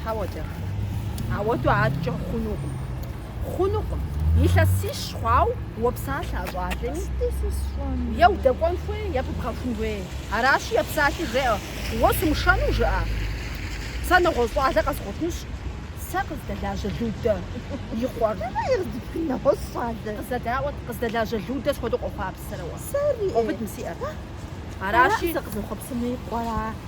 Хьэуэ, Джэрхъей, ауэду адэкӏэ хъунукъым. Хъунукъым. Илъэсищ хъуауэ уопсалъэ а щӏалэми. Е удэкӏуэн хуей, е пыбгъэхун хуей. Аращи, епсалъи жеӏэ, Уэ сумышэну жыӏэ? Сэ нэгъуэщӏ щӏалэ къэзгъуэтынщ. Сэ къыздэлажьэ Людэ и къуэр. Нэгъуэщӏ щӏалэ? Къыздэдаӏуэт, къыздэлажьэ Людэ схуэдэу къохъуапсэрэ уэ? Сэри. Къэубыд мы си ӏэр. Аращи. Сэ къызэхъуэпсыну и къуэра?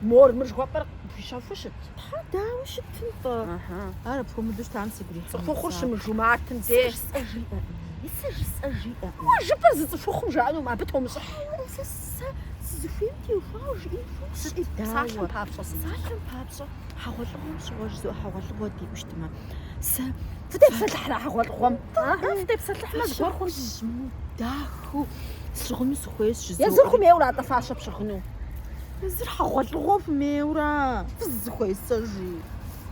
Мор, мыр жыхуэпӏэр къыпхуищэфу щыт? Тхьэ, дауэ щытын-тӏэ? Ар апхуэмыдэу щытам сигу ирихьынут. Цӏыхухъур щымыжу мартым де. Сэ жысӏэ жиӏэкъым. Сэ жысӏэ жиӏэкъым. Уэ жыпӏэр зы цӏыхухъум жаӏэнукъым, абы тумыщӏыхь. Хьэуэрэ, сэ сэ сызыхуейм теухуауэ жиӏэн хуейщ. Сыт? Псалъэм папщӏэ сыт? Псалъэм папщӏэ, хьэгъуэлӏыгъуэм щыгъуэ жызоӏэ хьэгъуэлӏыгъуэ диӏэу щытмэ. Сэ Фытепсэлъыхьрэ хьэгъуэлӏыгъуэм? Фытепсэлъыхьмэ, зыгуэр хъунщ. Дахэу сщыгъыну сыхуейщ жызоӏэри. Езыр хуэмейуэ ара-тӏэ фащэ пщыгъыну? Езыр хьэгъуэлӏыгъуэ хуэмейуэ фызыхуесэжи.